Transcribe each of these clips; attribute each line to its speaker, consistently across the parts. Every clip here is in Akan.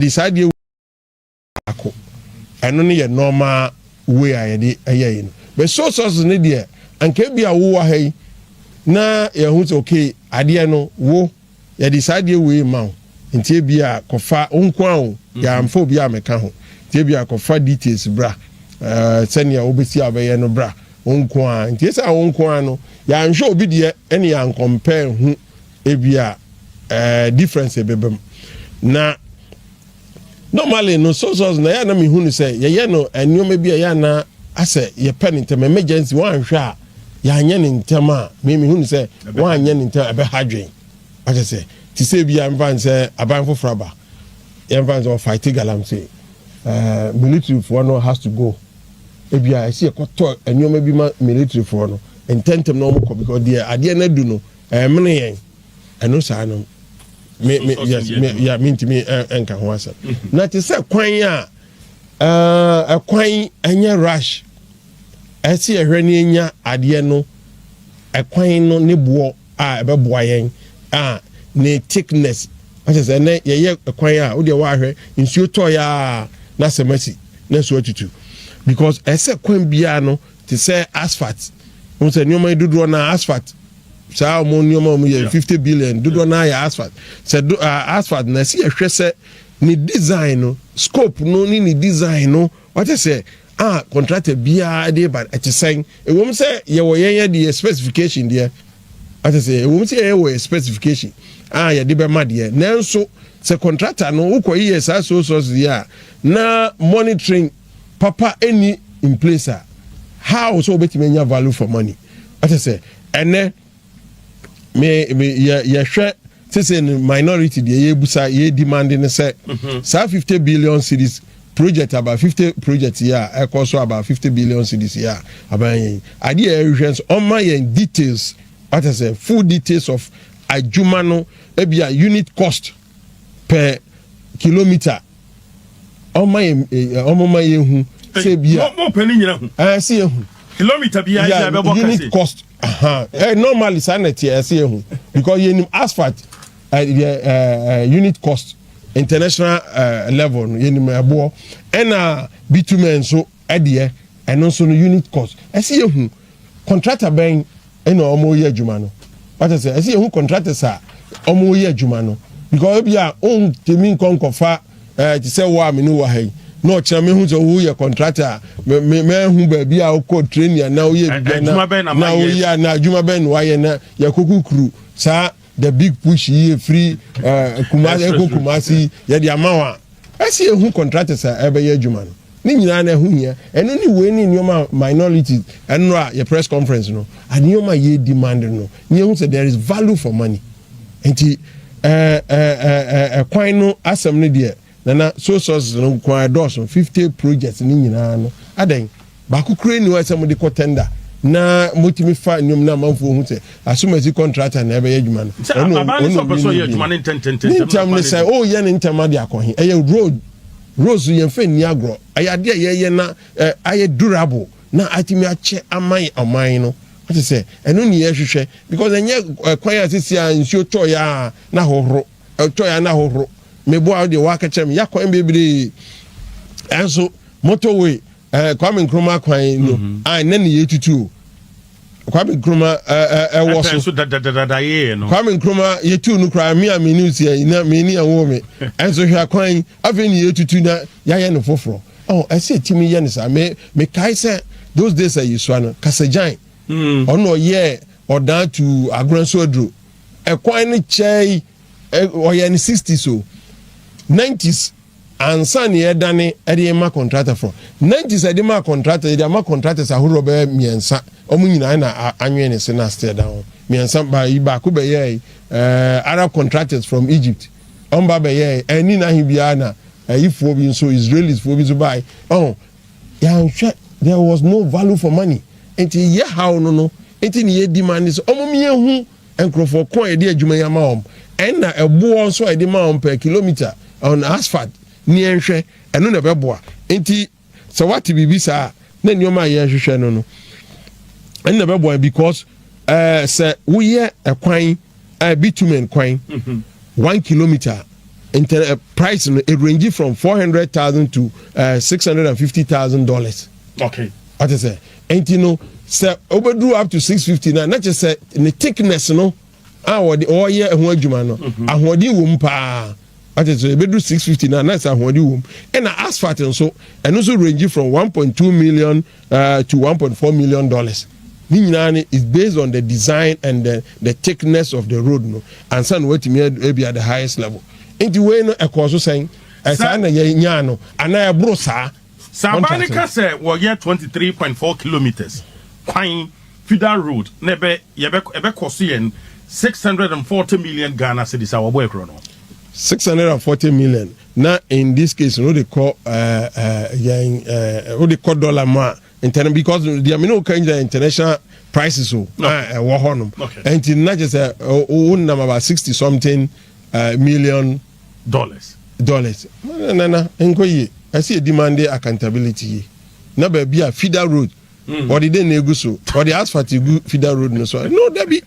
Speaker 1: de saa adeɛ wei yɛ baako. Ɛno ne yɛ normal way a yɛde yɛ yi no. But soy sauces no deɛ, anka ebia wo wɔ ha yi na yɛahu sɛ okay, adeɛ no wo, yɛde saa adeɛ wei rema wo. Nti ebia kɔfa, wo nko ara o, yɛamfa obi ammɛka ho. Nti ebia kɔfa details bra, eh, sɛnea wobɛsi a wobɛyɛ no bra, wo nko ara. Nti esiane wo nko ara no, yɛanhwɛ obi deɛ ne yɛancompare hu Ebia ɛɛ difference ebebam na normally no source source na yɛn na mi hu no sɛ yɛyɛ no nneɛma bi a yɛn na asɛ yɛpɛ ne ntɛm emergency wɔn anhwɛ a yɛanyɛ ne ntɛm a mi mi hu no sɛ wɔn anyɛ ne ntɛm ɛbɛ ha dwen akyɛ sɛ ti sɛ ebi a nfa nsɛ aban foforɔ aba yɛn nfa nsɛ ɔfaite galamsey ɛɛ military foɔ no has to go ebi a ɛsi ɛkɔtɔ nneɛma bi ma military foɔ no ntɛntɛm na wɔn kɔ because deɛ adeɛ na du no. Ɛmene yɛn ɛno saa no me me yes me ya me ntumi ɛnka ho asɛm na te sɛ kwan a ɛkwan ɛnyɛ rush ɛsi ɛhwɛ ne enya adeɛ no ɛkwan no ne boɔ a ɛbɛboa yɛn a ne thickness ɔsɛ sɛ ɛnɛ yɛyɛ ɛkwan a wodeɛ wɔahwɛ nsuo tɔɔ yɛ a na sɛm asi na nsuo atutu because ɛsɛ kwan biara no te sɛ asphalt, wohu sɛ nneɛma yi dodoɔ no ara asphalt, saa wɔn nneɛma a wɔyɛ fifty billion dodoɔ no ara yɛ asphalt, sɛ do uh, asphalt na ɛsi yɛhwɛ sɛ ne design no scope no ne ne design no wɔte sɛ a contractor biara de ba ɛte sɛn ɛwom sɛ yɛwɔ yɛn yɛ de yɛ specification deɛ ate sɛ ɛwom sɛ yɛyɛ wɔ yɛ specification a yɛde bɛma deɛ nanso sɛ contractor no wokɔ yiyɛ saa sole source deɛ a na monitoring papa nni in place a, how sɛ wobɛtumi anya value for money? Ɛte sɛ ɛnɛ me me yɛ yɛhwɛ sese no minority deɛ yɛbusa yɛ demand no sɛ mhm. saa fifty billion cities project about fifty project yi a ɛkɔ so about fifty billion cities yi a aban yɛn adeɛ a ɛrehwɛ nso ɔma yɛn details wata sɛ full details of adwuma no ebi a unit cost per kilometer ɔma yɛ eh, ɔmo ma yɛ hu sɛ bi a mo pɛ ne nyina hu ɛɛ
Speaker 2: sɛ yɛ hu kilometer
Speaker 1: bi ayɛ yɛ
Speaker 2: bɛbɔ kɛse unit cost aha
Speaker 1: ɛɛ normally saa na ɛteɛ ɛsɛ yɛ hu because yɛ nim asphalt ɛɛ eh, ɛɛ eh, eh, unit cost international ɛɛ level no yɛ nim ɛboɔ ɛna bitumen nso Ɛdeɛ ɛno nso no unit cost ɛsɛ yɛhu contractor bɛn ɛna ɔmo yɛ adwuma no wata sɛ ɛsɛ yɛhu contractors a ɔmo yɛ adwuma no because ebi a ontumi nkɔ nkɔfa ɛɛ te sɛ wɔ a me ne wɔ ha yi na ɔkyerɛ me ho sɛ wo yɛ contractor a me me mɛhu baabi a wokɔ training a na woyɛ adwuma bɛn na na woyɛ na adwuma bɛn na wayɛ na yɛkɔ kukuru saa The big push yi efiri ɛɛ kuma ɛkɔ kumasi yɛde ama wa ɛsi ehu contractors a ɛbɛyɛ adwuma no ne nyinaa na ɛho hia ɛno ne wei ne nneɛma minority ɛno a yɛ press conference no nneɛma yɛ demand no ne ehu sɛ there is value for money nti ɛɛ ɛɛ ɛɛ ɛkwan no asɛm no deɛ. Na na soy sauces no nko ara ɛdɔɔso, fifty projects no nyinaa no, adɛn, baako koraa nni hɔ a ɛsɛ sɛ mode kɔ tender na motumi fa nnwom na amanfoɔ hu sɛ asomasi contractor na ɛbɛyɛ adwuma no. Sɛ akwabaa ne sɛ ɔpɛ sɛ ɔyɛ
Speaker 2: adwuma no ntɛntɛntɛm. Ne ntɛm ne sɛ,
Speaker 1: oh yɛ ne ntɛm ade akɔ he? Ɛyɛ road, roads no yɛmfa nni agorɔ, ɛyɛ adeɛ a yɛyɛ na ayɛ durable na atumi akyɛ ama ɔman no. Wote sɛ? Ɛno ne yɛhwehwɛ because ɛnyɛ kwan a sisi a nsuo tɔeɛ a na hohoro. Ɛtɔe a na ahohoro. Meboa wo deɛ woaka kyerɛ me ya kwan bebree ɛnso motorway eh, Kwame Nkrumah kwan no ah, na ne yɛtutu o Kwame Nkrumah ɛwɔ so so dadadada yɛɛ no Kwame
Speaker 2: Nkrumah yɛtuu
Speaker 1: no koraa me a mene osia yi na mene ɛwɔ me ɛnso hwɛ akwan yi afei ne yɛtutu na yɛayɛ no foforɔ oh, ɛsɛ timi yɛ no saa me mekae sɛ those days a yɛsua no kasagyan ɔno ɔyɛɛ ɔdaa tu agorɔ nso aduro Kwan no kyɛe, ɔyɛɛ no sixties o, nineties ansa na yɛredane de rema contractor fo. Nineties a yɛde maa contractor, yɛde ama contractors ahoroɔ bɛyɛ mmiɛnsa. Wɔn nyinaa na anwene ne se na aseɛ da ho. Mmiɛnsa ba yi baako bɛyɛɛ ɛɛ eh, Arab contractors from Egypt. Wɔn ba bɛyɛɛ ɛni eh, n'ahe biara na ɛyifoɔ eh, bi nso Israelis foɔ bi nso baae. Ɔho Yɛanhwɛ there was no value for money nti yɛ haw no no nti ne yɛ demande sɛ ɔmo meyɛ hu nkorɔfoɔ ko a yɛde adwuma yi ama wɔn ɛna ɛboɔ nso a yɛde ma wɔn per kilometer on asphalt ne yɛnhwɛ ɛno na ɛbɛboa nti sɛ wate biribi saa na nneɛma a yɛrehwehwɛ no no ɛno na ɛbɛboa because ɛɛ sɛ woyɛ ɛkwan ɛɛ bitumen kwan one kilometer Nter eh, price no e range from four hundred thousand to eh, six hundred and fifty thousand dollars. Okay. Ɔte sɛ nti no sɛ wobɛduru up to six fifty na na kyɛ sɛ ne thickness no a wɔde wɔyɛ ho adwuma no mhm. ahoɔden wɔ mu paa ɔte sɛ ebɛduru six fifty na na sɛ ahoɔden wɔ mu ɛna asphalt nso ɛno nso range from one point two million Uh, to one point four million dollars ne nyinaa no is based on the design and the, the thickness of the road no ansa na watumi ebi at the highest level nti wei no ɛkɔɔ so sɛn ɛsaa na yɛnyaa no anaa ɛboro saa saba ne ka
Speaker 2: sɛ wɔyɛ 23.4 kilometers kwan fidal road na ɛbɛ yɛbɛ ɛbɛkɔ so yɛn 640 million ghana cedis a wɔbɔ ɛkorɔ no
Speaker 1: 640 million Na in this case no wode kɔ yɛn wode kɔ dollar mu a ntɛnɛn because deɛ me ne wo ka nyina international prices o na ɛwɔ hɔ nom ɛnti na kyɛ sɛ wo nam about sixty something million
Speaker 2: dollars dollars
Speaker 1: nana nkɔ yie ɛsɛ yɛ demand accountability yie na baabi a feeder road hmm. wɔde dɛn na egu so wɔde asphalt egu feeder road no so no dabi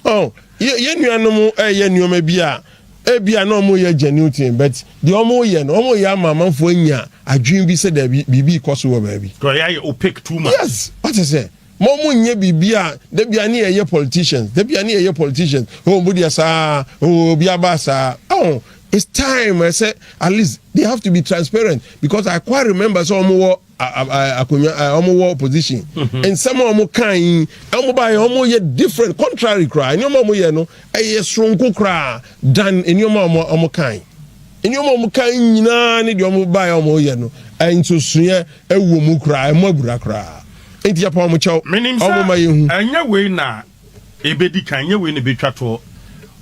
Speaker 1: ɔ oh, yɛ nuanom ɛyɛ nneɛma bi a. Ebia na wɔreyɛ genuine thing but deɛ wɔreyɛ no wɔreyɛ ama amanfoɔ anya adwene bi sɛ daabi biribi rekɔ so wɔ baabi. Nti wɔyɛ ayɛ opaque too
Speaker 2: much. Yes, wate sɛ
Speaker 1: ma wɔnyɛ biribi a da biara ne yɛyɛ politicians, da biara ne yɛyɛ politicians, oh mo deɛ saa, oh obi aba saa, oh it's time ɛsɛ at least they have to be transparent because I quite remember sɛ wɔwɔ. Akonwa a wɔn wɔ opposition nsɛm a wɔn kan yi wɔn ba yɛ wɔn yɛ different contrary koraa nneɛma wɔn yɛ no ɛyɛ soronko koraa dan nneɛma a wɔn wɔn kan nneɛma wɔn kan nyinaa ne deɛ wɔn ba yɛ wɔn yɛ no nsosoeɛ ɛwɔ mu koraa ɛmo abura koraa nti yɛ pa wɔn kyɛw wɔn ma yɛ hu.
Speaker 2: ɛnyɛ wei na Ebedi kan, nyɛ wei na ebetwa toɔ.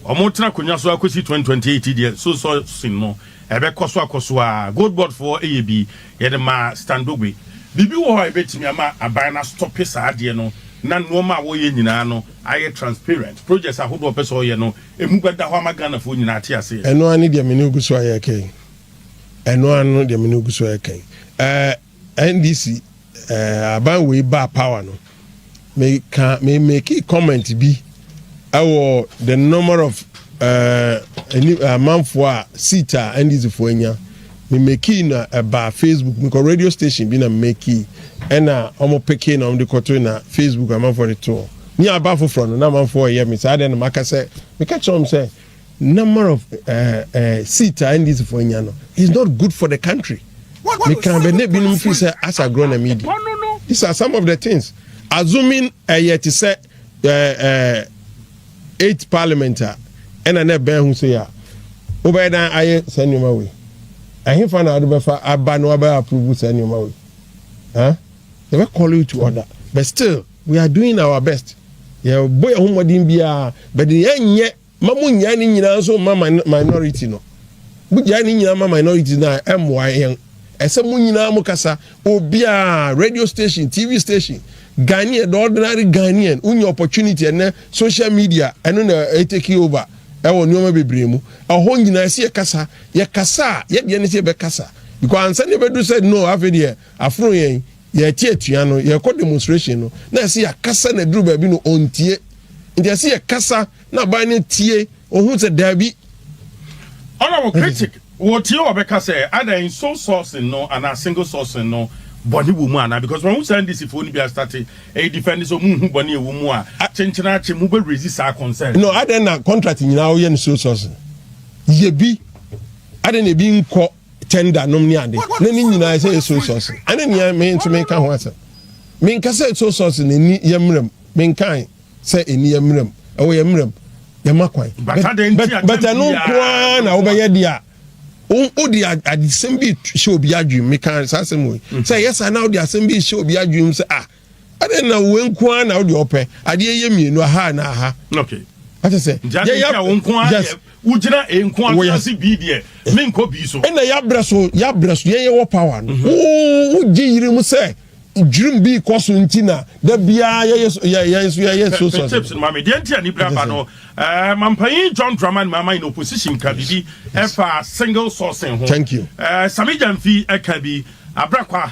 Speaker 2: Wɔretena akonnwa so akosi twenty twenty eight yi deɛ, so sourcing no, ɛbɛkɔ so akɔ so ara. Gold Board foɔ yɛ bi, yɛde maa Stan Dogbe. Biribi wɔ hɔ a ebetumi ama aban no astɔpe saa adeɛ no na nnoɔma a wɔyɛ nyinaa no ayɛ transparent. Projects ahodoɔ a ɔpɛ sɛ ɔyɛ no, emu bɛda hɔ ama Ghanafoɔ nyinaa ate aseɛ. Ɛno ara ne deɛ me ne wo gu
Speaker 1: so ayɛ kɛn. Ɛno ara no deɛ me ne wo gu so ayɛ kɛn. Ɛɛ. NDC eh, aban wei baa power no, me ka me make comment bi ɛwɔ the number of ɛni eh, amanfoɔ a seat a NDC foɔ anya. Me make na ɛbaa Facebook, me kɔ radio station bi na me make ɛna wɔn peke na wɔn de kɔto na Facebook amanfoɔ de to. Ni aba foforɔ no na amanfoɔ yɛ me saa deɛ na maka sɛ meka kyerɛ wɔn sɛ. number of eh, eh, seat a ndc fo anya no is not good for the country meka bɛ ne binom firi sɛ asa agorɔ na medi these are some of the things assuming ɛyɛ eh, te sɛ eh, eh, eight parliament a ɛna na ɛbɛn ho sɛ yɛ a wobɛyɛ dan ayɛ saa nneɛma wei ɛhefa na wode bɛfa aba na wabɛyɛ approve saa nneɛma wei huh? they will call you to order but still We are doing our best, yɛbɔ yɛn ho mmɔden biara, but deɛ yɛnyɛ ma mo nyaa ne nyinaa nso ma minority no. Mo gyaa ne nyinaa ma minority no a ɛmmoa yɛn. Ɛsɛ mo nyinaa mo kasa, obiara, radio station, TV station, Ghanaian, the ordinary Ghanaian, wonya opportunity ɛnɛ, social media, ɛno na ɛtake over ɛwɔ nneɛma bebree mu. Ɛhɔ nyinaa ɛsɛ yɛ kasa, yɛ kasa a, yɛ deɛ ne sɛ yɛbɛkasa. Because ansa na yɛbɛdu sɛ no afei deɛ aforo yɛn, Yɛte atua no, yɛkɔ demonstration no, na ɛsɛ yɛakasa na ɛduru baabi no ɔntie. Nti ɛsɛ yɛkasa na aban no tie, ɔhu sɛ daabi.
Speaker 2: Ɔna wɔ critic, wɔtie wɔbɛka sɛ adan sole sourcing no anaa single sourcing no bɔne wɔ mu anaa because wɔahu saa NDC foɔ no bi astate ɛyɛ defend sɛ wɔn nhu bɔne ɛwɔ mu a kyenkyenaakye mo bɛ raise saa concern. No, adan na contract
Speaker 1: nyinaa wɔyɛ no sole sourcing? Yɛ bi, adan na ebi nkɔ. tender nom ne ade na ne nyinaa sɛ yɛ soy sauce ɛne nea me nso meka ho asɛm menka sɛ soy sauce na ɛni yɛ mmerɛm menkae sɛ ɛni yɛ mmerɛm ɛwɔ yɛ mmerɛm yɛma kwan but ɛno nkoaa na wobɛyɛ deɛ a wode adesɛm bi hyɛ obi adwene meka saa asɛm wei sɛ ɛyɛ saa na wode asɛm bi hyɛ obi adwene sɛ ah ɛdɛ na wo nko ara na wode ɔpɛ adeɛ yɛ mmienu aha na aha okay ate sɛ yɛyɛ wo nko ara
Speaker 2: yes wogyina nko ara ase bi deɛ me nkɔ bi so ɛna yɛabrɛ so
Speaker 1: yɛabrɛ so yɛyɛ wɔ power no mhm. wogye yiri mu sɛ dwirim bi kɔ so nti na da biara yɛyɛ so yɛyɛ so yɛyɛ so so tips ma me deɛ
Speaker 2: nti a ne bira ba no ɛɛ mampanyin john draman mama in opposition ka bibi ɛfa single sourcing ho thank you ɛɛ sami
Speaker 1: janfi
Speaker 2: ɛka bi abrakwa.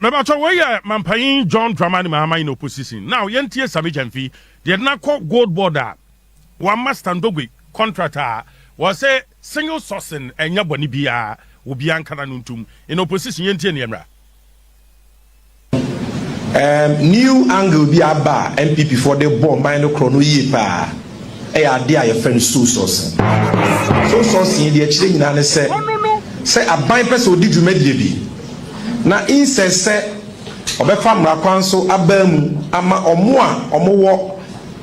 Speaker 3: Me ba tɔ wei yɛ
Speaker 2: Mampanyin John Dramani Mahama in opposition now yɛn tie Sammy Gyamfi deɛ na kɔ gold board a wa ma Stan Dogbe contract a wɔ se single sourcing ɛnyɛ bɔne biaa obia nkana no ntum in opposition yɛn tie neɛ mmra.
Speaker 4: Erm new angle bi aba a NPP foɔ de bɔ ɔman no korɔ no yie paa. yɛ adeɛ a yɛfrɛ no sow sourcing. Sow sourcing deɛ ɛkyerɛ nyinaa ne sɛ, sɛ aban pɛ sɛ ɔdi dwumadie bi na insɛ sɛ ɔbɛfa mmara kwan so abaa mu ama wɔn a wɔwɔ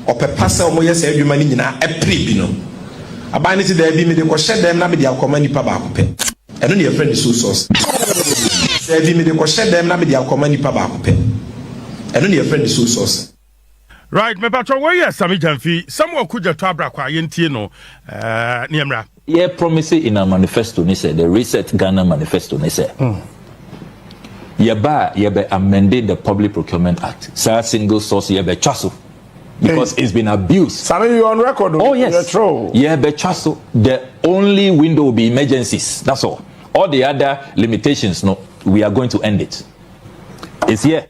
Speaker 4: ɔpɛ pa sɛ wɔyɛ saa adwuma no nyinaa ɛpere bi no, aban no se daabi mede kɔhyɛ dɛm na mede akɔma nnipa baako pɛ. Ɛno na yɛfrɛ no sow sourcing. Daabi mede kɔhyɛ dɛm na mede akɔma nnipa baako pɛ. Ɛno na yɛfrɛ no sow sourcing. Right, me
Speaker 2: patro wei yɛ Sami Gyamfi, Samuel Kugya to abra kwa, yɛn tie no, ɛɛ, ne ɛmra. Yɛ promise
Speaker 5: in our manifesto ne sɛ, the Reset Ghana manifesto ne sɛ, yɛ ba a yɛ bɛ amende the Public Procurement Act, saa single source yɛ bɛ twa so because it's been abused. Sami, you on record
Speaker 6: o, oh, yes. yɛ tro.
Speaker 5: Yɛ bɛ twa so, the only window will be emergencies, that's all. All the other limitations no, we are going to end it. It's here.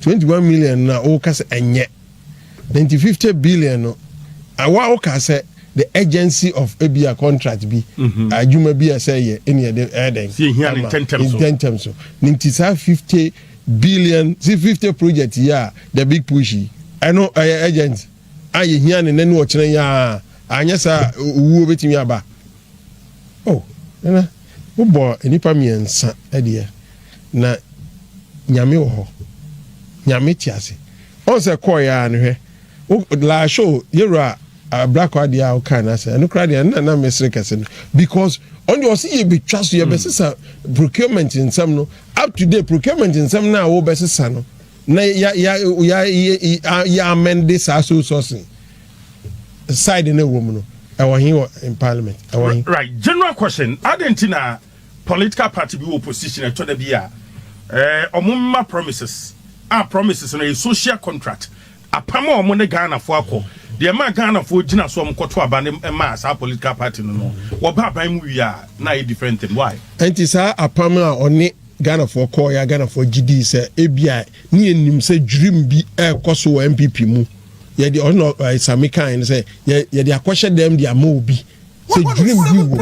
Speaker 1: twenty one million no a woka sɛ ɛnyɛ na nti fifty billion no awa woka sɛ the agency of ebi a contract bi mhm. adwuma bi a sɛ yɛ ɛni ɛde ɛdɛn
Speaker 2: ntɛntɛm so ne nti saa
Speaker 1: fifty billion si fifty project yi a the big push yi ɛno ɛyɛ agent a yɛhia ne nanu ɔkyerɛ yi a anyɛ saa owuo bɛtumi aba oh ɛna Wobɔɔ nnipa mmiɛnsa deɛ, na Nyame wɔ hɔ. Nyame te ase. Ɔn sɛ kɔɔeɛ ara no hwɛ, wo laahye o, yɛwura Abrako adeɛ a wokaa no asɛ, ɛno koraa deɛ ɛno na na mesere kɛse no because ɔno deɛ ɔse yɛbɛtwa so, yɛbɛsesa procurement nsɛm no up to date, procurement nsɛm no a wobɛsesa no na yɛ amende saa sole sourcing. side no ɛwɔ mu no ɛwɔ he wɔ in parliament ɛwɔ he. right general
Speaker 2: question adɛn nti na political party bi wɔ opposition ɛtɔ da bi a ɛɛ wɔn mma promises a promises no yɛ social contract apam a wɔn ne ghanafoɔ akɔ deɛ ɛma ghanafoɔ gyina so wɔn kɔto aba ne ɛma saa political party no no wɔba aban mu wie a na ayɛ different thing why. ɛnti saa apam
Speaker 1: a ɔne ghanafoɔ kɔɔ yɛ a ghanafoɔ gye dii sɛ ebi a. Ne yɛn nim sɛ dwirim bi ɛrekɔ so wɔ NPP mu. Yɛde ɔno na ɛɛ Sami kan no sɛ yɛ yɛde akɔhyɛ dɛm de ama obi sɛ dwirim bi wɔ mu.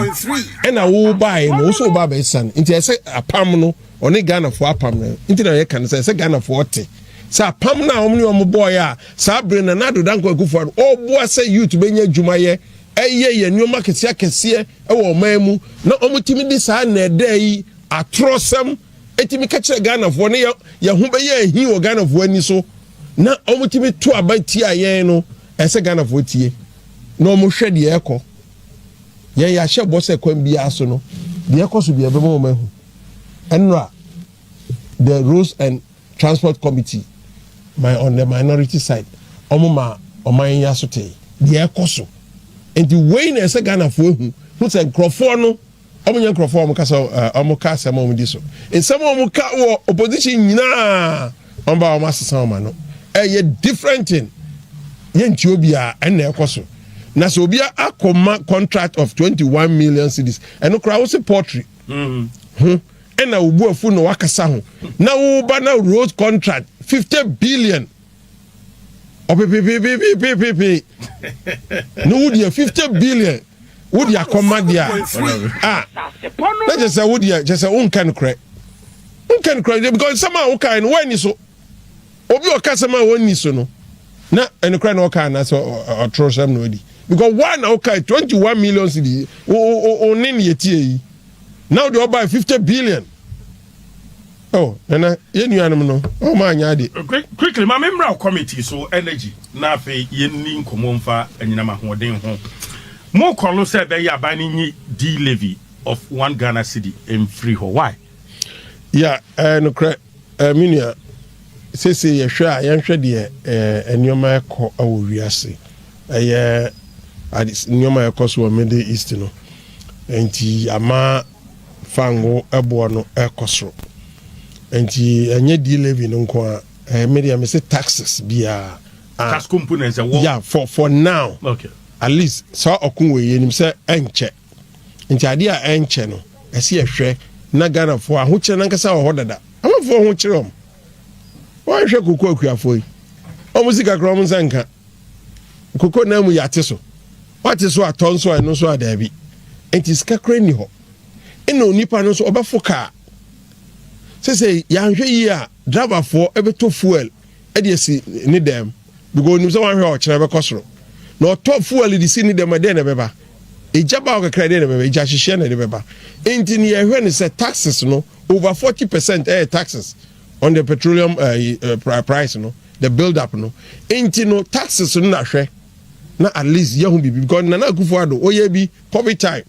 Speaker 1: Ɛna wobaeɛ no wosɛ woba abɛsane nti ɛsɛ apam no ɔne Ghanafoɔ apam no nti na yɛka no sɛ ɛsɛ Ghanafoɔ te sɛ apam no a wɔn ne wɔn bɔeɛ a saa bere na Nana Addo Dankwa Akufo-Addo ɔreboa sɛ youth bɛnya adwuma yɛ ɛyɛ yɛ nneɛma akɛseɛ akɛseɛ wɔ ɔman mu na wɔtumi de saa nnɛɛdɛɛ yi atorɔsɛm tumi ka kyerɛ Ghanafoɔ ne yɛn ho bɛyɛ ahi wɔ Ghanafoɔ ani so na wɔtumi to aba tia yɛn no, ɛsɛ Ghanafoɔ tie na wɔhwɛ deɛ ɛkɔ. Yɛn yɛahyɛ bɔ sɛ kwan biara so no, deɛ ɛkɔ so biara ɛbɛma wɔn ahu. Ɛnora, the Roads and Transport Committee, my on the minority side, wɔn ma ɔman yi asotee deɛ ɛkɔ so. Nti wei na ɛsɛ Ghanafoɔ ahu, hu sɛ nkurɔfoɔ no Wɔnyɛ nkurɔfoɔ a wɔka sɛ wɔka asɛm a wɔdi so. Nsɛm a wɔka wɔ opposition nyinaa, wɔba a wɔasesa wɔn ano. Ɛyɛ different thing. Yɛntie obiara, ɛno na ɛrekɔ so. Na sɛ obi akɔma contract of twenty one million cedis, ɛno koraa wose poultry ho ɛna wo bo afu na wakasa ho, na woba na road contract fifty billion. ɔpepepepepepepe na wo deɛ fifty billion wo deɛ akɔma deɛ a ah, na kyɛ sɛ wo deɛ kyɛ sɛ wonka no korɛ wonka no korɛ deɛ because nsɛm a wokae no woanni so obi a ɔka sɛm a wɔnni so no na ɛno korɛ na ɔka anaasɛ ɔtoro sɛm na ɔdi because woa na wokae twenty one million cedi wo ne ne yɛtie yi na wode ɔbae fifty billion Oh, nana, yɛn nuanom no, oh, maa nyɛ ade. Quick, quickly, ma me mmra
Speaker 2: committee so energy na afei yɛn ni nkɔmɔ nfa anyinam ahoɔden ho. Mo kɔlo sɛ ɛbɛyɛ aban no nyi di levy of one Ghana cedi mfiri hɔ, why? Ya,
Speaker 1: ɛɛ nokorɛ, ɛɛ me nua, sese yɛ hwɛ a yɛn hwɛ deɛ ɛɛ nneɛma ɛkɔ ɛwɔ wiase, ɛyɛ ade nneɛma ɛkɔ so wɔ middle east no, ɛnti ama. Fa ngo boɔ no kɔ soro. Nti ɛnyɛ di levy no nko a eh, me deɛ mese taxes biara ah. Tasco mpo na
Speaker 2: nsɛ wɔ. Yeah, for, for
Speaker 1: now. Okay. At least
Speaker 2: saa
Speaker 1: ɔko wɔ yɛ nim sɛ ɛnkyɛ. Nti adeɛ a ɛnkyɛ no ɛsi ɛhwɛ na Ghanafoɔ ahokyerɛ nankasa wɔ hɔ dada. Amanfoɔ ho kyerɛ wɔn. Wɔnhwɛ koko akuafoɔ yi. Wɔn sika kora wɔn nsa nka. Nkoko nan mu yɛate so. Woate so atɔ nso a ɛno nso a daabi. Enti sika kora nni hɔ. Ɛna onipa no nso ɔbɛfo kaa. Sesei yɛanhwɛ yie a driverfoɔ bɛtɔ fuel de asi ne dɛm because onim sɛ wanhwɛ a ɔkyena bɛkɔ soro. Na ɔtɔ fuel de si ne dɛm a dɛn na ɛbɛba? Egya ba hɔ kakra dɛn na ɛbɛba? Egya hyehyeɛ na ɛde bɛba. Enti ne yɛhwɛ ne sɛ taxes no over forty percent ɛyɛ taxes. on the petroleum uh, price no the build up no nti no taxes no na hwɛ na at least yɛ ho biribi because nana akufo ado ɔyɛ bi covid time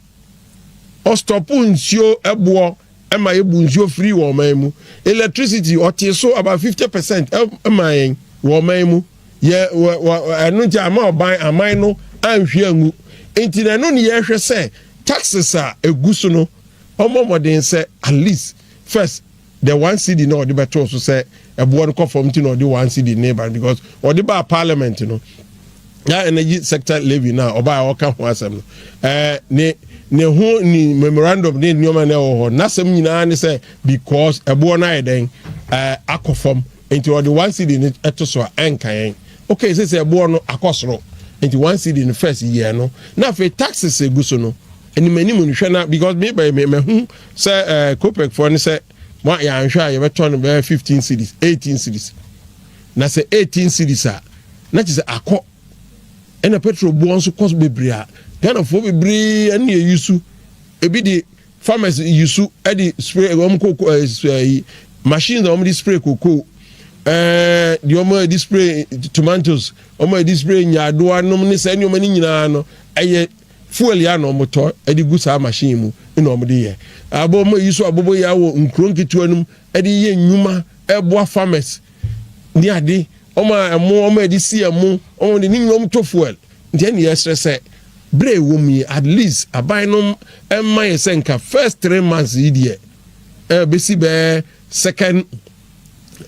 Speaker 1: ɔstɔpo nsuo ɛboɔ ɛma yɛ bu nsuo firi wɔ ɔman mu electricity ɔte so about fifty percent ɛma yɛn wɔ ɔman mu yɛ wɔ wɔ ɛno nti ama ɔban aman no anhwi angu nti na ɛno ne yɛhwɛ sɛ taxes a egu so no ɔmɔ mɔden sɛ at least first the one cedi na ɔde bɛtoo so sɛ ɛboɔ no kɔ fam nti na ɔde one cedi ne ba no because ɔde baa parliament no na energy sector levy no a ɔbaa ɔka ho asɛm no ɛɛ ne ne ho ne memorandum ne nneɛma na ɛwɔ hɔ n'asɛm nyinaa ne sɛ because ɛboɔ no ayɛ dɛn ɛɛ akɔ fam nti ɔde one cedi no ɛto so a ɛnka yɛn okay sɛ sɛ ɛboɔ no akɔ soro nti one cedi no first yɛ no na afei taxes egu so no anim anim no hwɛ na because me bɛyɛ me mahu Sɛ ɛɛ Copec foɔ no sɛ mo yɛanhwɛ a yɛbɛtɔ no bɛyɛ fifteen cedis, eighteen cedis. Na sɛ eighteen cedis a, na kyerɛ sɛ akɔ. Ɛna petrol boɔ nso kɔ so bebree a, Ghanafoɔ bebree ɛne yɛ yusu. Ebi de farmers yusu ɛde spray wɔn kɔ kɔ ɛɛ yi machines a wɔn de spray koko, ɛɛ deɛ wɔn ɛde spray tomatoes, wɔn ɛde spray nyaadoa nom ne saa nneɛma no nyinaa no ɛyɛ. Fuel yi a na ɔmo tɔ ɛde gu saa machine yi mu na ɔmo de yɛ. Abɔ ɔmo ayi so abobo yi ara wɔ nkuro nketewa no mu ɛde yɛ nnwuma ɛboa farmers ne ade. Ɔmo a ɛmo ɔmo a ɛde si ɛmo ɔmo de ne nyinaa ɔmo tɔ fuel. Nti ɛne yɛsrɛ sɛ berɛ a ɛwɔ mu yi at least aban no mma yɛ sɛ nka first three months yi deɛ ɛbɛsi bɛɛ second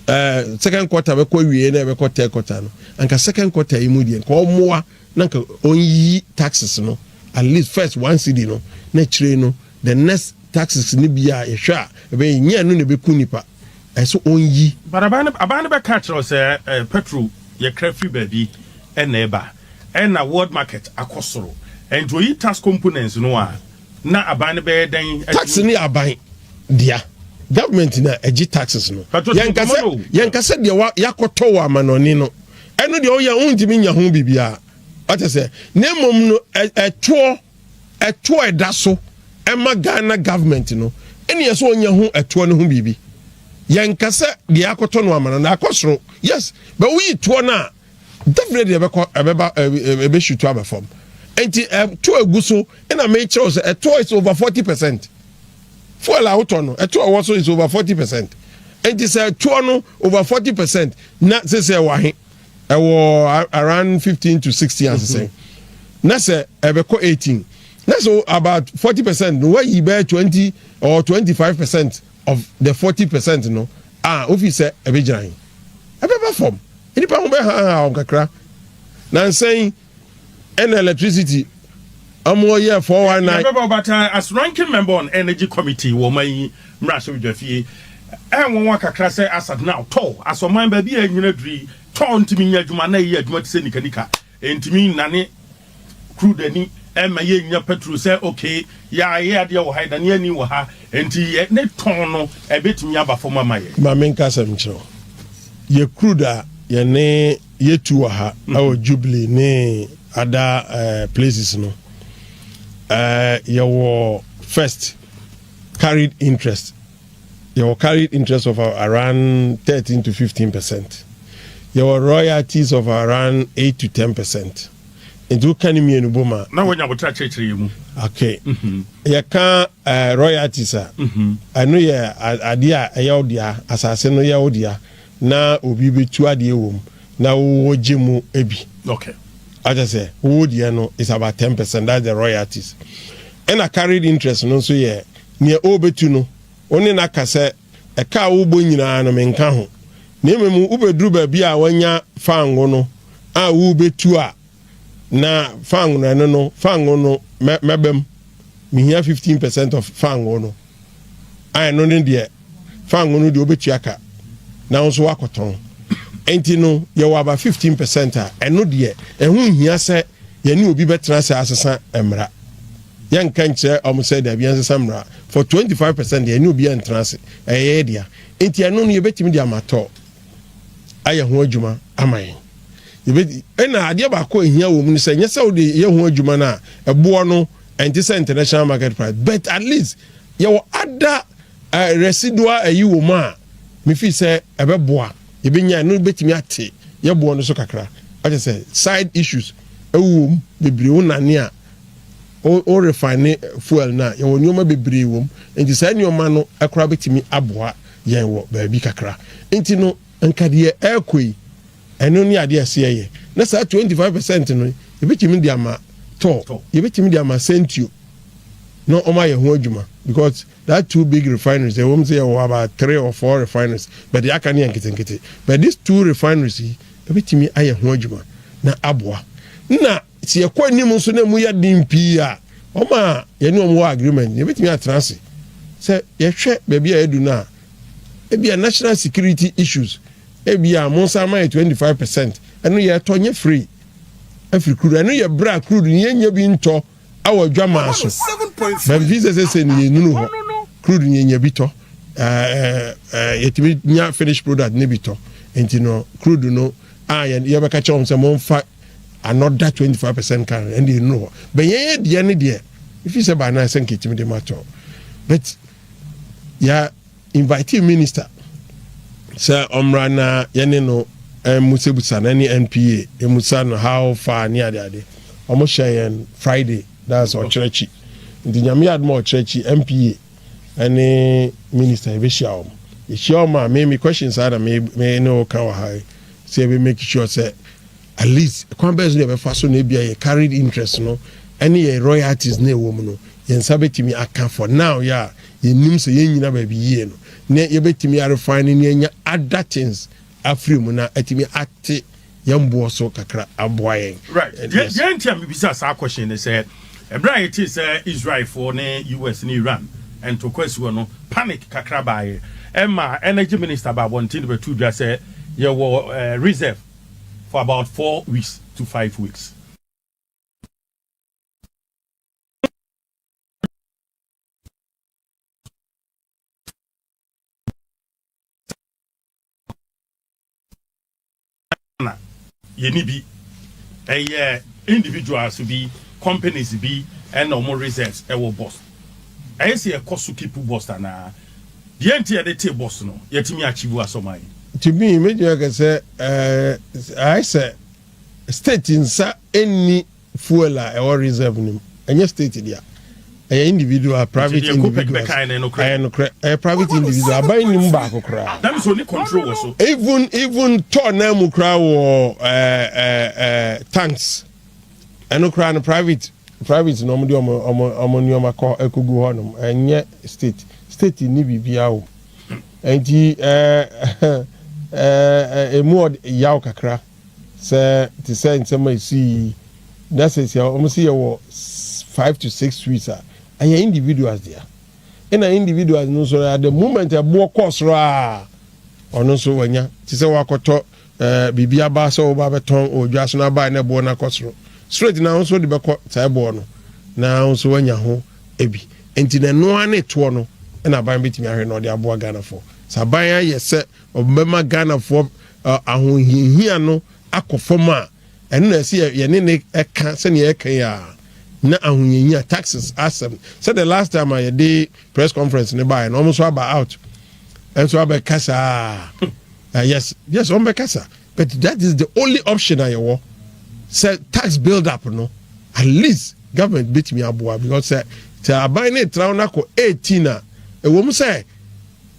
Speaker 1: ɛɛ second quarter bɛkɔ awieɛ na ɛbɛkɔ third quarter no anka second quarter yi mu deɛ nka ɔmoa na nka ɔnyiyi taxes no at least first one cedi no na akyire no the next taxes no bi a yɛhwɛ a ɛbɛyɛ ɛnyɛ ɛno na ɛbɛku nnipa ɛsɛ ɔnyi. But aban no aban no
Speaker 2: bɛka akyerɛ wo sɛ eh, petrol yɛkra firi baabi ɛna ɛba ɛna world market akɔ soro ɛnti ɔyi tax components no a na aban no bɛyɛ dɛn adi tax no yɛ aban
Speaker 1: dea government na ɛgye taxes no Patrol, yɛnkasɛ nkɔmmɔ no. yɛnkasɛ deɛ wa- yɛakɔtɔ wɔ amanɔne no Ɛno deɛ woyɛ wontumi nya ho biribiara wate sɛ na mmom no ɛtoɔ ɛtoɔ ɛda so ɛma Ghana government no ɛne yɛ sɛ ɔnya ho ɛtoɔ no ho biribi yɛnka sɛ deɛ akɔtɔ no ama no na akɔ soro yes bɛ woyi toɔ no a definitely ɛbɛkɔ ɛbɛba ɛbɛhyutu aba fam nti ɛtoɔ egu so ɛna mekyerɛw sɛ ɛtoɔ is over forty percent Fuel a wotɔ no, ɛtoɔ a ɛwɔ so is over forty percent. Enti sɛ ɛtoɔ no over forty percent na sese ɛwɔ ahe? Ɛwɔ around fifteen to sixteen asesɛn. Mm-hmm. Na sɛ ɛbɛkɔ eighteen. Na so about forty percent no wayi bɛyɛ twenty or twenty five percent of the forty percent no a wofi sɛ ɛbɛgyina he? Ɛbɛba fam. Nnipa ho bɛhaahaa wɔn kakra. Nansa yi ɛna electricity ɔmo yɛ four one nine. Yɛbɛbɔ ɔbata as ranking
Speaker 2: member on energy committee wɔ ɔman yi mmarahyɛbedwafie. Ɛnwanwa kakra sɛ asat no atɔ as ɔman baabi a ɛnnyina duru yi tɔ ntumi nyɛ adwuma na ɛyɛ adwuma te sɛ nikanika. Ɛntumi nnane crude ani, ɛmma yɛnnya petrol sɛ okay yɛayɛ adeɛ wɔ ha yɛda ne ani wɔ ha nti yɛ ne tɔn no ɛbɛtumi aba fam ama yɛn. Ma menka asɛm
Speaker 1: nkyerɛ wo, yɛ crude a yɛne. Yɛtu wɔ ha ɛwɔ Jubilee ne ada eh, places no eh, yɛwɔ first carried interest yɛwɔ carried interest of around 13 to 15 percent yɛwɔ royalties of around 8 to 10 percent nti woka ne mmienu bom a na wɔnya botra kyerɛkyerɛ
Speaker 2: yɛ mu okay
Speaker 1: mhm. yɛka eh, royalties a mhm. ɛno yɛ adeɛ a ɛyɛ wo dea asase no yɛ wo dea na obi bɛtu adeɛ wɔ mu na wowɔ gye mu bi okay
Speaker 2: wate aseɛ
Speaker 1: wowɔ deɛ no is about ten percent that's the royalties ɛna carried interest no nso yɛ neɛ ɔbɛtu no wo ne no aka sɛ ɛka a wobɔ nyinaa no menka ho na mmom wobɛduru baabi a wanya fango no a wobɛtu a Na fango ɛno no fango no mɛba mu mehia fifteen percent of fango no a ɛno ne deɛ fango no deɛ wobɛtua ka na wo nso woakɔtɔn nti no yɛwɔ aba fifteen percent a ɛno deɛ ɛho nhia sɛ yɛne obi bɛtena sɛ asesa mmara yɛnka nkyerɛ ɔm sɛ dabi yɛnsesa mmara for twenty five percent deɛ ɛne obi ɛntena ase ɛyɛ dea nti ɛno no yɛbɛtumi de amatɔ ayɛ ho adwuma ama yɛn. Yɛbɛti, ɛna adeɛ baako a ɛhia wɔ mu no sɛ, nyɛ sɛ wode yɛ ho adwuma no a, ɛboɔ no ɛnte sɛ international market price, but at least yɛwɔ ada uh, residual ayi wɔ mu a, mefiri sɛ ɛbɛboa, yɛbɛnya no bɛtumi ate yɛboɔ no so kakra. Ɔkyɛ sɛ side issues ɛwɔ mu bebree, wo nane a o refine fuel no a, yɛwɔ nneɛma bebree wɔ mu, nti saa nneɛma no ɛkora bɛtumi aboa yɛn wɔ baabi kakra. Nti no, anka deɛ ɛrekɔ yi, ɛno ne adeɛ a ɛsɛ yɛyɛ. Na saa twenty five percent no, yɛbɛtumi de ama tɔɔ, yɛbɛtumi de ama sɛntuo na wɔayɛ ho adwuma because that two big refineries, ɛwɔ mu sɛ yɛwɔ about three or four refineries but deɛ aka no yɛ nketenkete. But these two refineries yi, ɛbɛtumi ayɛ ho adwuma na aboa. Na. Sɛ yɛkɔ anim nso na emu yɛ den pii a, wɔn a yɛne wɔn wɔ agreement no, yɛbɛtumi atena ase. Sɛ yɛhwɛ baabi a yɛadu no a, ebia national security issues, ebia monsan ma yɛ 25 percent, ɛno yɛtɔ nyɛ free afiri crude. Ɛno yɛ berɛ a crude no yɛnnya bi ntɔ awɔ adwamaa so. Bamfii sɛ sɛsɛ no yɛnunu hɔ, crude no yɛnya bi tɔ, yɛtumi nya finish product no bi tɔ. Nti no crude no a yɛbɛka kyerɛ wɔn sɛ momfa Another twenty five percent kan ɛnna enu hɔ bɛn yɛn yɛ deɛ ne deɛ efi sɛ baa nan sɛ nketimi de ma tɔ but yɛ invite minister sɛ ɔmra na yɛne no ɛmusebusa na ne npa emusa no how far ne ade ade wɔn hyɛ yɛn friday that's ɔkyerɛ akyi nti nyame yɛ adum ɔkyerɛ akyi npa ɛne minister ebehyia wɔn ehyia wɔn a me me questions ara na me me ne ɔka wɔ ha yi. Sɛ yɛbɛ make sure sɛ at least kwan bɛn so na yɛbɛfa so na ebia yɛn carried interest no ne yɛn royalties no a ɛwɔ mu no yɛn nsa bɛtumi aka for now yɛ a yɛnnim sɛ yɛnnyina baabi yie no na yɛbɛtumi a refine ne anya other things afiri mu na atumi ate yɛn boɔ so kakra aboa yɛn. Right. Deɛ
Speaker 2: nti a mebisa saa question no sɛ Bere a yɛtee sɛ Israelfo ne US. ne Iran ntoko asi hɔ no, panic kakra bae. Ɛma Energy Minister baa abɔnten de bɛtoo dwa sɛ yɛwɔ reserve for about four weeks to five weeks. Ghana, yɛnni bi. Ɛyɛ individuals bi, companies bi na wɔn reserves wɔ bus. Ɛyɛ sɛ yɛkɔ so keep bus anaa? Deɛ nti yɛde te bus no, yɛatumi achieve asɔman? To me, mɛtumi
Speaker 1: aka sɛ, ɛɛ, ayɛ sɛ state nsa nni Fuel a ɛwɔ reserve no mu, ɛnyɛ state dea. Ɛyɛ individual, private individuals. Ɛyɛ nokorɛ. Ɛyɛ private individual. Aban nim baako koraa.
Speaker 2: Even even tɔ
Speaker 1: nan mu koraa wɔ ɛɛ ɛɛ ɛɛ tanks. Ɛno koraa no private private na wɔn de wɔn wɔn wɔn nneɛma kɔ ɛkogu hɔ nom. Ɛnyɛ state. State ni biribiara o. Nti ɛɛ ɛɛ ɛɛ emu yaw kakra. Sɛ te sɛ nsɛm a esii yi na seesei a wɔse yɛwɔ five to six suites a, ɛyɛ individuals dea. Ɛna individuals no nso at the moment ɛboɔ kɔɔ soro a, ɔno nso wanya te sɛ woakɔtɔ eh, biribi aba sɛ woba bɛtɔn wɔ dwa so na abae na ɛboɔ no akɔ soro straight na wo nso wode bɛkɔ saa ɛboɔ no na wo nso wanya ho ebi nti na ɛno ara ne toɔ no ɛna aban bɛtumi ahwɛ na ɔde aboa Ghanafoɔ sɛ aban ayɛ sɛ ɔbɛma Ghanafoɔ ahohiahia no akɔ fam a, ɛno na ɛsɛ yɛ yɛne no ka sɛnea yɛka yi a, na ahohiahia taxes asɛm sɛ the last time a yɛde press conference no baeɛ no wɔn nso aba out nso abɛkasa uh, yes yes wɔn bɛkasa but that is the only option a yɛwɔ sɛ tax build up no at least government betumi aboa because sɛ sɛ aban no etra no akɔ eighteen a ɛwɔ mu sɛ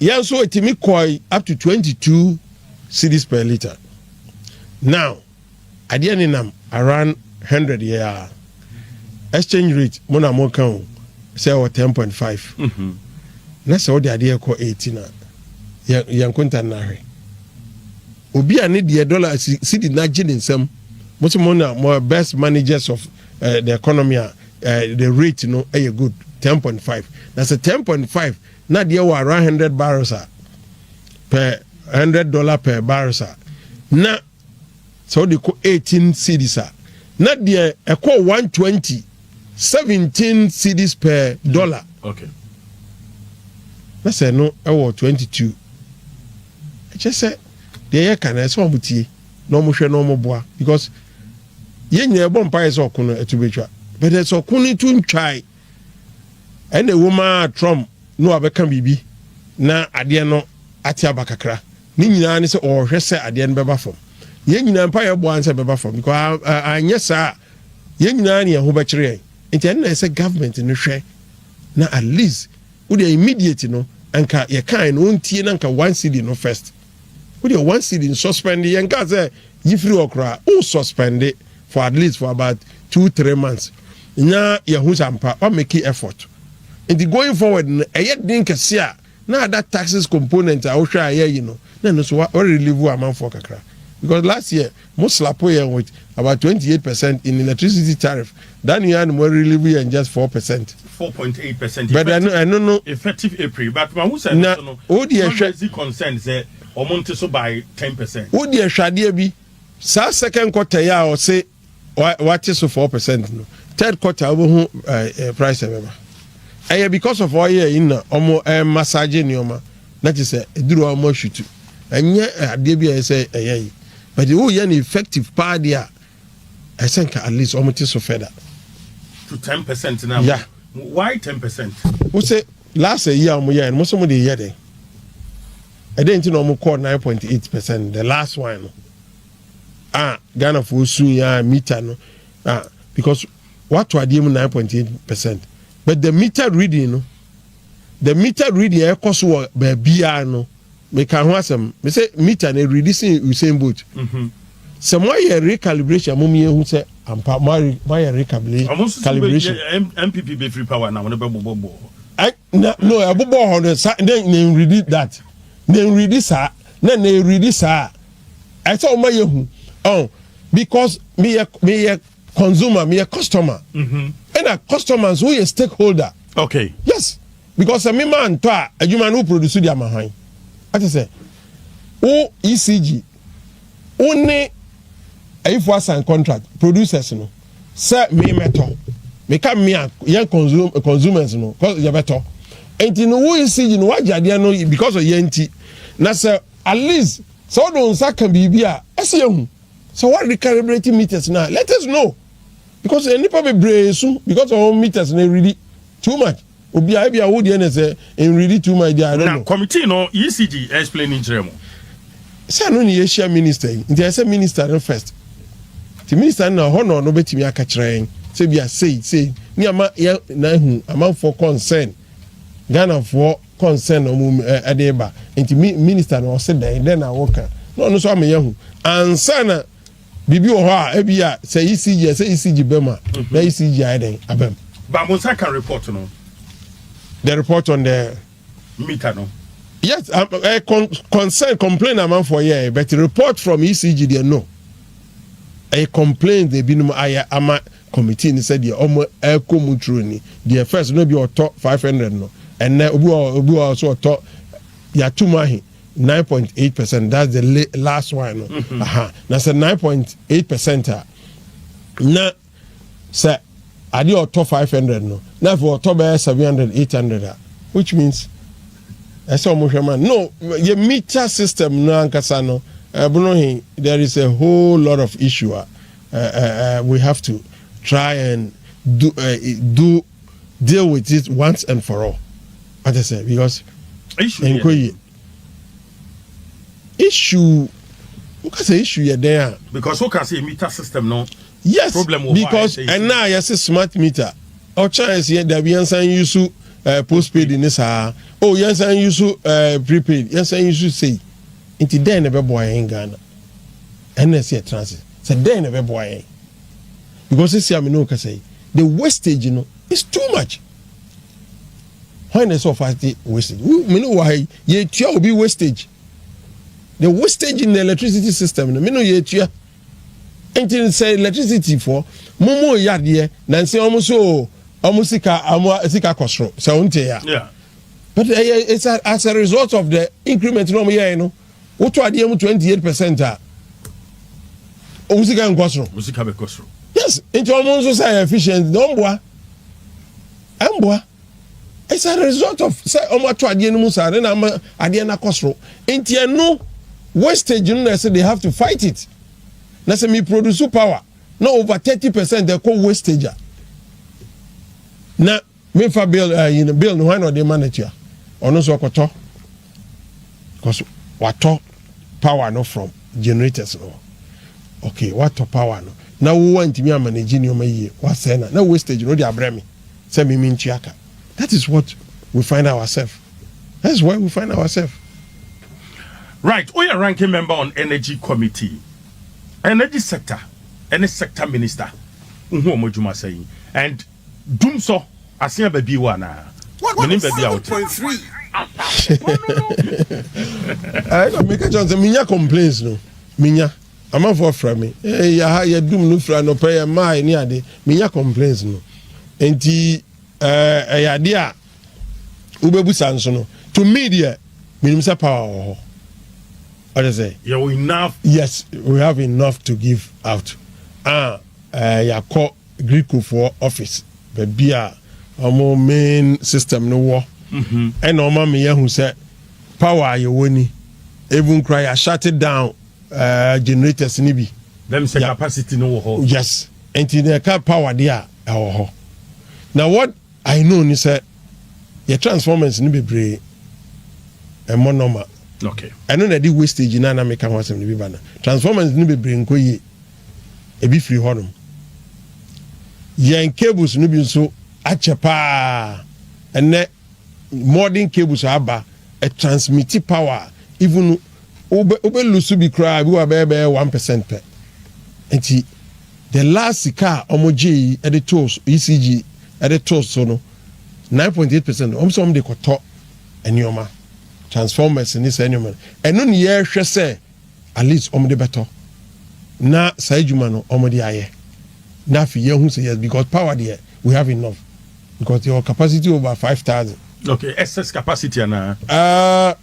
Speaker 1: Yɛn nso etumi kɔe up to twenty two cedis per litre. Now, adeɛ nenam around hundred yɛ a, exchange rate mo na moka o, sɛ ɛwɔ ten point five, na sɛ wode adeɛ rekɔ eighteen a, yɛ yɛ nkonta no ara hwɛ. Obi a ne deɛ dollar si cedi no agye ne nsam, mo nso mo na mo best managers of eh, the economy a eh, the rate no yɛ good ten point five, na sɛ ten point five Na deɛ wɔ around hundred barrels a per hundred dollar per barrels a na sɛ wode kɔ eighteen cities a na deɛ ɛkɔ one twenty seventeen cities per mm, dollar na sɛ no ɛwɔ twenty two ɛkyɛ sɛ deɛ yɛ ka na ɛsɛ wɔn tie na wɔn hwɛ na wɔn boa because yɛn nyinaa ɛbɔ mpa yɛ sɛ ɔko no ɛto betwa bɛtɛ sɛ ɔko no to ntwae. Ɛna ɛwom ara Trump ne wabɛka biribi na adeɛ no ate aba kakra. Ne nyinaa ne sɛ ɔrehwɛ sɛ adeɛ no bɛba fam. Yɛn nyinaa mpaeɛ a yɛbɔ ara ne sɛ ɛbɛba fam because anyɛ saa a yɛn nyinaa ne yɛn ho bɛkyere yɛn. Nti ɛno na ɛsɛ sɛ government no hwɛ na at least wodeɛ immediate no anka yɛkaeɛ no ɔntie na anka one cedi no first. Wo deɛ one cedi nsuspɛnde yɛn kaa sɛ yi firi hɔ koraa wo suspɛnde for at least for about two three months nya yɛ hu sɛ ampa wa make effort nti going forward no ɛyɛ den kɛse a na ada taxes component a wo hwɛ a ɛyɛ yi no na ɛno so wa relieve amanfoɔ kakra because last year Mo slapo yɛn with about twenty eight percent in electricity tariff that new ano mo relieve yɛn just four percent. Four
Speaker 2: point eight percent but ɛno ɛno
Speaker 1: no. Effective April but
Speaker 2: ma ho sɛ ɛno so no wo deɛ hwɛ ɔmo
Speaker 1: concern sɛ
Speaker 2: ɔmo nte so by ten percent. Wo deɛ hwɛ adeɛ
Speaker 1: bi saa second quarter yi a ɔse wate so four percent no third quarter wobɛhu price ɛbɛba ɛyɛ because of oil yi na ɔmo ɛmassage nneɛma. Na te sɛ aduru a wɔma hwitu. Ɛnyɛ adeɛ bi a ɛyɛ sɛ ɛyɛ yi. But woyɛ no effective paa deɛ a, ɛyɛ sɛ nka at least wɔte so further. To
Speaker 2: ten percent no a. Yeah. Why ten
Speaker 1: percent?
Speaker 2: Wo se
Speaker 1: last ayi a wɔyɛɛ no, mo se mode reyɛ dɛn? Ɛdɛn nti na wɔkɔɔ nine point eight percent the last one no? A Ghanafoɔ sui a meter no a because wato adeɛ mu nine point eight percent but the meter reading no The meter reading a ɛkɔ so wɔ baabiara no, meka ho asɛm. Me sɛ meter no ɛredi sen Usain Bolt. Sɛ moayɛ recalibration a, mom yɛhu sɛ ampa moayɛ recalibration. Ɔmo nso so bɛ yɛ MPP
Speaker 2: bɛ firi power na wɔn bɛ bobɔ
Speaker 1: bɔ hɔ. Na no ɛbobɔ hɔ no sa na na ɛredi that na ɛredi saa na na ɛredi saa ɛsɛ ɔma yɛhu ɔn because meyɛ meyɛ consumer, meyɛ customer, ɛna customer nso woyɛ stakeholder. Okay. Yes,
Speaker 2: because
Speaker 1: sɛ mema antɔ a adwuma no wo produce de ama hwan? Ate sɛ wo ECG wo ne ayifo asan contract producers no sɛ me mɛtɔ meka me a yɛn consume consumers no yɛbɛtɔ nti no wo ECG no wagye adeɛ no because of yɛn nti na sɛ at least sɛ wode nsa ka biribi a ɛsɛ yɛhu Sɛ wa recalibrate meters no a let us know because nnipa bebree su because of wɔn meters no ɛredi too much obiara ebia wo deɛ na sɛ ɛnredi too much deɛ I don't know. Na committee no ECG
Speaker 2: explain ne nkyerɛ mo. Sɛ ɛno
Speaker 1: ne yɛhyia minister yi nti ɛsɛ minister no first nti minister no na ɔhɔ na ɔno bɛtumi aka kyerɛ yɛn sɛ bia sei sei ne ama yɛ na ahu amanfoɔ concern Ghanafoɔ concern na wɔn ɛ ɛde reba nti mi minister na ɔse dɛn dɛn na wɔka na ɔno nso ama yɛn ho ansa na biribi wɔ hɔ a ebi a sɛ ECG a sɛ ECG bɛm a mhm. na ECG ayɛ dɛn abɛm. ba mo nsa ka
Speaker 2: report no. the
Speaker 1: report on the. meter no.
Speaker 2: yes um, uh,
Speaker 1: con concern complain amanfoɔ yɛ yeah, but report from ECG deɛ no ɛyɛ complain de binom ayɛ ama. committee ne sɛ deɛ ɔmo ɛkɔ mu true ni deɛ first no ebi ɔtɔ five hundred no ɛnɛ obi wɔ obi wɔ so ɔtɔ yɛato mu ahe nine point eight percent that's the last one no mm-hmm. aha na sɛ nine point eight percent a na sɛ adeɛ ɔtɔ five hundred no na afei ɔtɔ bɛyɛ seven hundred eight hundred a which means ɛsɛ ɔmo hwɛ ma no yɛ meter system no ankasa no ɛbono he there is a whole lot of issue a. we have to try and do do deal with it once and for all ate sɛ because nkɔ yie issue woka sɛ issue yɛ dɛn a. because woka sɛ meter
Speaker 2: system no. yes problem wɔ
Speaker 1: because
Speaker 2: ɛna a
Speaker 1: yɛse smart meter ɔkyɛn ɛsi yɛ dabi yɛn san yi so ɛɛ eh, postpaid ne saa o oh, yɛn san yi so ɛɛ eh, prepaid yɛn san yi so sei nti dɛn na ɛbɛboa yɛn ghana. Ɛnna sɛ yɛtena ase sɛ dɛn na ɛbɛboa yɛn? Because seesei a me ne wo kasa yi, the wastage no is too much. Hwan na ɛsɛ ɔfa te wastage? Wo me ne wo ha yi, yɛtua obi wastage. The wastage in the electricity system no, me ne yɛtua. Nti sɛ electricity foɔ, mo mo yɛ adeɛ, na nsɛ wɔn so wɔn sika wɔn sika kɔ soro, sɛ wɔn te ya. But
Speaker 2: ɛyɛ eh, eh,
Speaker 1: it's as a result of the increment na wɔn yɛ no. Wotɔ adeɛ mu twenty eight percent a, wɔn sika nkɔ soro. Wɔn sika bɛkɔ soro.
Speaker 2: Yes, nti wɔn
Speaker 1: nso sɛ ɛyɛ efficient na wɔn boa. Ɛmboa. It's a result of sɛ wɔn ato adeɛ no mu saa ne na ama adeɛ no akɔ soro. Nti ɛno wastage no na ɛsɛ they have to fight it. Na sɛ mi produce power na over thirty percent ɛkɔ wastage a na Me nfa bill ɛɛ yi no bill no hwan na ɔde ma no tua ɔno nso ɔkɔtɔ because watɔ power no from generators no okay watɔ power no na wo wantumi ama ne gye nneɛma yie wasɛɛ na na wastage no de abrɛ me sɛ mimi ntua ka that is what we find ourselves that is where we find ourselves.
Speaker 2: Right, woyɛ ranking member on energy committee, energy sector ɛne sector minister, wohu wɔn adwuma sɛn and. Dum sɔ ase a baabi wɔ anaa? Menim baabi a wote.
Speaker 1: Ɛɛ na meka kyɛn sɛ menya complaints no menya amanfoɔ afra me ɛɛ yɛ ha yɛ dum no fira nɔpɛ yɛ mmaa ne ade menya complaints no nti ɛɛ ɛyɛ ade a wobɛbu saa nso no to me deɛ menim sɛ power wɔ hɔ ɔde sɛ yɛwɔ enough yes
Speaker 2: we have
Speaker 1: enough to give out ah ɛɛ yɛakɔ. Greekfoɔ office baabi a wɔn main system no wɔ ɛna wɔn ama yɛahu sɛ power a yɛwɔ ni even kura yɛ shut down uh, generators no bi. Bɛm sɛ capacity
Speaker 2: no wɔ hɔ. Yes, nti na
Speaker 1: ɛka power deɛ a ɛwɔ hɔ. Na what I know ni sɛ yɛ transformers no bebree ɛmɔ nɔma. Okay. Ɛno na
Speaker 2: ɛde wastage
Speaker 1: no a na meka ho asɛm no bi ba no. Transformers no bebree nkɔ yie. ebi firi hɔnom. Yɛn cables no bi nso akyɛ paa. Ɛnɛ modern cables a aba transmit power a even wobɛ wobɛ lose bi koraa bi wɔ bɛyɛ bɛyɛ one percent pɛ. Nti the last sika a wɔn gye yi de too ECG de too so no nine point eight percent wɔn sɛ wɔn de kɔtɔ nneɛma transformers ne saa nneɛma no ɛno ne yɛrehwɛ sɛ. at least wɔn de bɛtɔ na saa adwuma no wɔn de ayɛ na afei yɛn ho sɛ yes because power deɛ we have enough because your capacity over five thousand. okay excess
Speaker 2: capacity ana. Uh,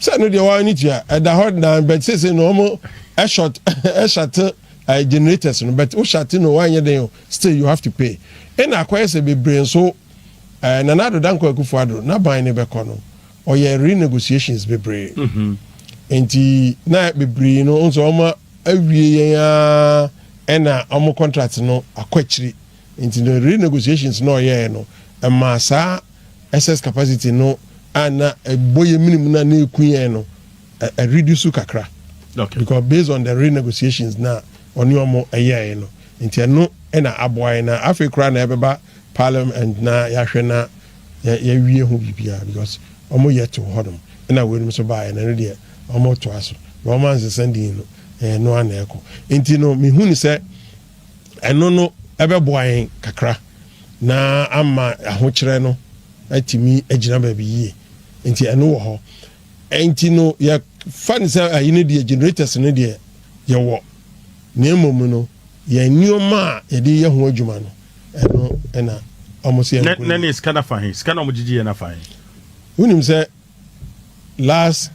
Speaker 2: sɛ
Speaker 1: no deɛ wɔn ani tua ɛda hɔ dan but sese na wɔn ɛshort ɛshate ɛɛ generators no but woshate no wɔn anyɛ den o still you have to pay ɛna akɔyɛ sɛ bebree nso Eh, Nana Addo Dankwa Akufo Addo n'aban no bɛkɔ no, ɔyɛɛ renegotiations bebree. Nti na bebree no, nso wɔn awie yɛn ara ɛna wɔn contract no akɔ akyiri. Nti no renegotiations no a ɔyɛɛ no, ɛmaa saa excess capacity no a na ɛbɔ yɛn mene mu na na ɛku yɛn no, ɛ, ɛ reduce kakra. Okay. Because based on the renegotiations na ɔne wɔn yɛɛe no, nti ɛno na aboa yɛn na afei koraa na ɛbɛba Parliament na yɛahwɛ na yɛawie ho biribiara because wɔn yɛ too hɔ nom ɛna weinom nso baeɛ na ɛno deɛ wɔn retoa so na wɔn ansesa din no ɛyɛ ɛno ara na ɛrekɔ nti no mehu no sɛ ɛno no ɛbɛboa yɛn kakra na ama ahokyerɛ no atumi agyina baabi yie nti ɛno wɔ hɔ nti no yɛfa no sɛ ayi no deɛ generators no deɛ yɛwɔ na mmom no yɛn nneɛma a yɛde yɛ ho adwuma no ɛno na wɔn si ɛnkɔ na ne sika na fa he
Speaker 2: sika na wɔn gyegye yɛ na fa he. wonim sɛ
Speaker 1: last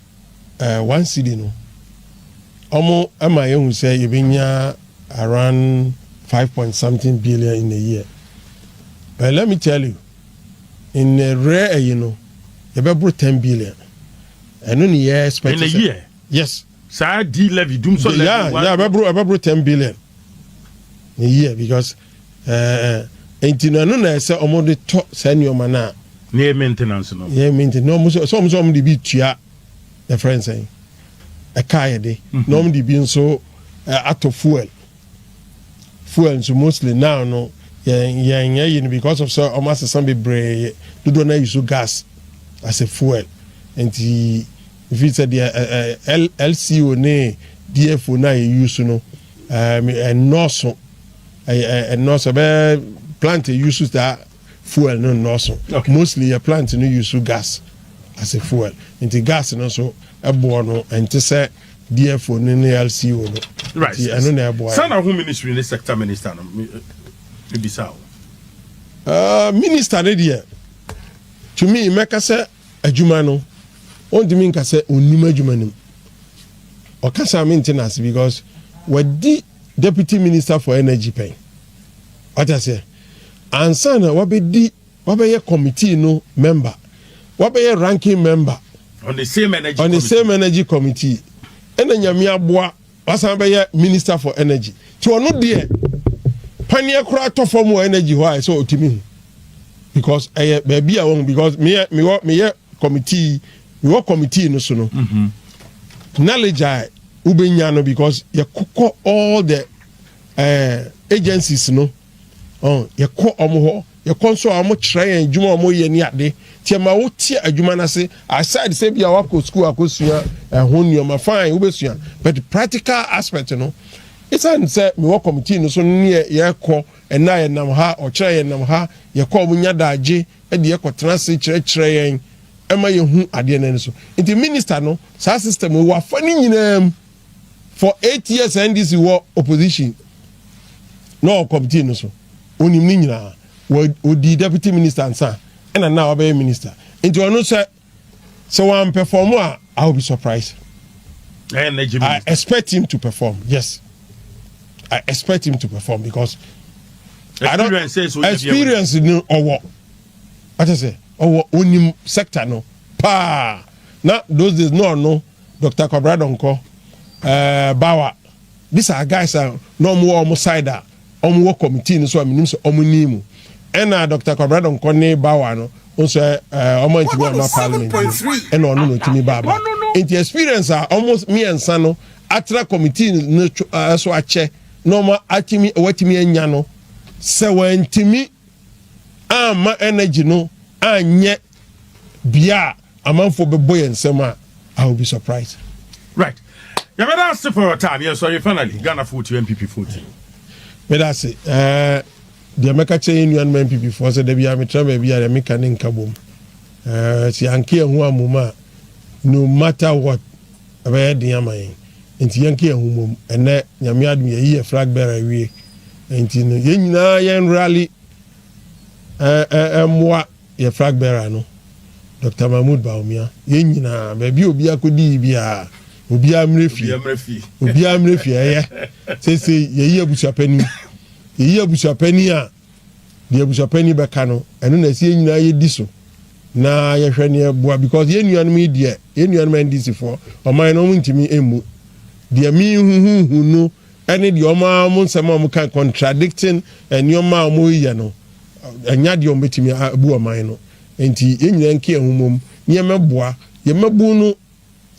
Speaker 1: uh, one cd no wɔn ɛma yɛn hu sɛ yɛbɛnya around five point something billion in a year but let me tell you in a rare ɛyi no yɛbɛboro ten billion ɛno ne yɛ expect in a year
Speaker 2: yes. Saa
Speaker 1: di levy
Speaker 2: dum so levy wa. Yeah yeah ɛbɛboro ɛbɛboro
Speaker 1: ten billion ne year because ɛɛ nti no ɛno na ɛsɛ wɔn de tɔ saa nneɛma no a. Ne yɛ maintenance
Speaker 2: no. Yɛ maintenance na wɔn nso ɛsɛ
Speaker 1: wɔn nso wɔn de bi tua yɛ fɛn sɛn ɛka yɛ de mhm. na wɔn de bi nso atɔ fuel fuel nso mostly now no yɛn yɛn yɛ yi no because of sɛ wɔn asesa bebree dodoɔ na yi so gas as a fuel nti. Ɛfiri sɛ deɛ LCO ne DFO no a yɛ use no nnɔɔso, nnɔɔso ɛbɛyɛ plant a use saa fuel no nnɔɔso. Mostly yɛ plant no use gas as a fuel. Nti gas no nso ɛboɔ no ɛnte sɛ DFO no ne LCO no. Nti ɛno na
Speaker 2: ɛboa yɛn. Saa na ho ministry ne sector minister no mebisa o. Minister
Speaker 1: no deɛ to me mɛka sɛ. Adwuma no, ɔntumi nka sɛ ɔnnim adwuma no mu. Ɔkasa a mente no ase because wadi Deputy Minister for Energy pɛn. Wate aseɛ? Ansa na wabɛdi, wabɛyɛ committee no member, wabɛyɛ ranking member On the same
Speaker 2: energy on the committee. same energy committee,
Speaker 1: ɛna Nyame aboa Wasan bɛyɛ minister for energy nti ɔno deɛ paneɛ koraa tɔ fam wɔ energy hɔ a ɛsɛ ɔtumi hu because ɛyɛ baabi a wɔn because meyɛ mewɔ meyɛ committee mewɔ committee no so no mm -hmm. knowledge a wobɛnya no because yɛkokɔ all the uh, agencies no Yɛkɔ wɔn hɔ, yɛkɔ nso a wɔkyerɛ yɛn adwuma a wɔyɛ ne ade. Nti ɛma wote adwuma no ase. Aside sɛ bia woakɔ sukuu akɔsua ɛho nneɛma, fine, wobɛsua. But practical aspect no, ɛsiane sɛ mewɔ committee no so ne yɛkɔ, ɛnnɛ a yɛnam ha, ɔkyena yɛnam ha, yɛkɔ a wɔnya daagye de yɛn kɔtena ase kyerɛkyerɛ yɛn ma yɛhu adeɛ no ani so. Nti minister no, saa system yi, wafa ne nyinaa mu. For eight years NDC wɔ opposition na ɔwɔ committee no so. Onim ne nyinaa. Wɔ ɔdii deputy minister ansa ɛna na wabɛyɛ minister. Nti ɔno sɛ sɛ wɔn perform a I will be surprised. I expect him to perform. Yes. I expect him to perform because I don't experience no ɔwɔ. Ate sɛ ɔwɔ onim sector no paa. Na those days no ɔno. Dɔkta Kwabra Donkor, ɛɛ Bawa, ne saa guys a na wɔn wɔ wɔn side a wɔn wɔ committee no so a menim sɛ wɔn nii mu. Ɛna Dɔkta Kwabra Donkor ne Bawa no, wɔn sɛ ɛɛ wɔn antumi amma parliament no, ɛna ɔno na ɔtumi baa ba. Nti experience a wɔn mmiɛnsa no atra committee no so akyɛ na wɔn atumi wɔatumi anya no, sɛ wɔantumi amma energy no anyɛ bia a amanfoɔ bɛbɔ yɛn nsɛm a I will be surprised. Right.
Speaker 2: Yɛbɛda ase for your time. Yɛn sɔre finally Ghana foɔ ti NPP foɔ ti. Mɛda ase.
Speaker 1: Ɛɛ deɛ mɛka kyerɛ yɛn nuanom NPP foɔ sɛ dabi a metra baabi a deɛ meka ne nka bom. Ɛɛ si anke yɛn ho amom a no matter what ɛbɛyɛ den ama yɛn. Nti yɛn ke yɛn ho mom. Ɛnɛ nyame adum yɛyi yɛ flag bearer awie. Nti no yɛn nyinaa yɛn rally ɛɛ ɛɛ mmoa Yɛ flag bearer no, Doctor Mahmood Bawumia, yɛn nyinaa, baabi a obiara kɔdii biara, obiara mmrɛ fie, obiara mmrɛ fie, ɛyɛ, seesei yɛyi abusuapanin, yɛyi abusuapanin a, deɛ abusuapanin bɛka no, ɛno na ɛsɛ yɛn nyinaa yɛdi so, na yɛhwɛ na yɛboa, because yɛn nuanom yi deɛ, yɛn nuanom NDC foɔ, ɔman no wɔn ntumi mmu, deɛ mehuhuhu no, ɛne deɛ wɔn ara wɔn nsɛm a wɔka contradicting nneɛma a wɔyɛ no ɛnyɛ adeɛ a wɔbɛtumi abu ɔman no nti yɛn nyinaa nka yɛn ho mmom na yɛmmɛboa yɛn mmabun no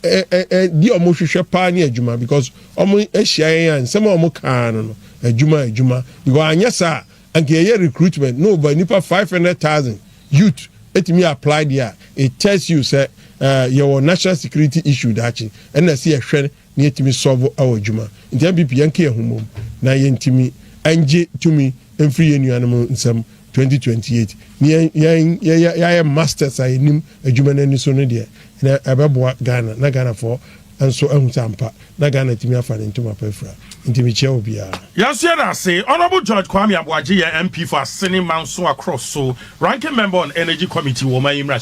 Speaker 1: deɛ wɔhwehwɛ paa ne adwuma because wɔahyia yɛn a nsɛm a wɔka ara no no adwuma adwuma because anyɛ saa a anka yɛyɛ recruitment na over nipa five hundred thousand youth ɛtumi apply deɛ a it tells you sɛ yɛwɔ national security issue daakye ɛna ɛsɛ yɛhwɛ na yɛtumi sɔvo wɔ dwuma nti mpp yɛnka yɛn ho mmom na yɛntumi ngye tumi mfiri yɛn nuanom nsam 2028 ne yɛn yɛayɛ masters a yɛnim adwuma no ani so no deɛ na ɛbɛboa Ghana na Ghanafoɔ nso ahu sɛ ampa na Ghana atumi afa ne ntoma pa afira nti mekyia obiara. Yɛnso yɛda ase
Speaker 2: Honourable George Kwame Aboagye yɛn MP for Asene Manso Akrosso, Ranking Member on Energy Committee wɔ ɔman yi mmarahyɛ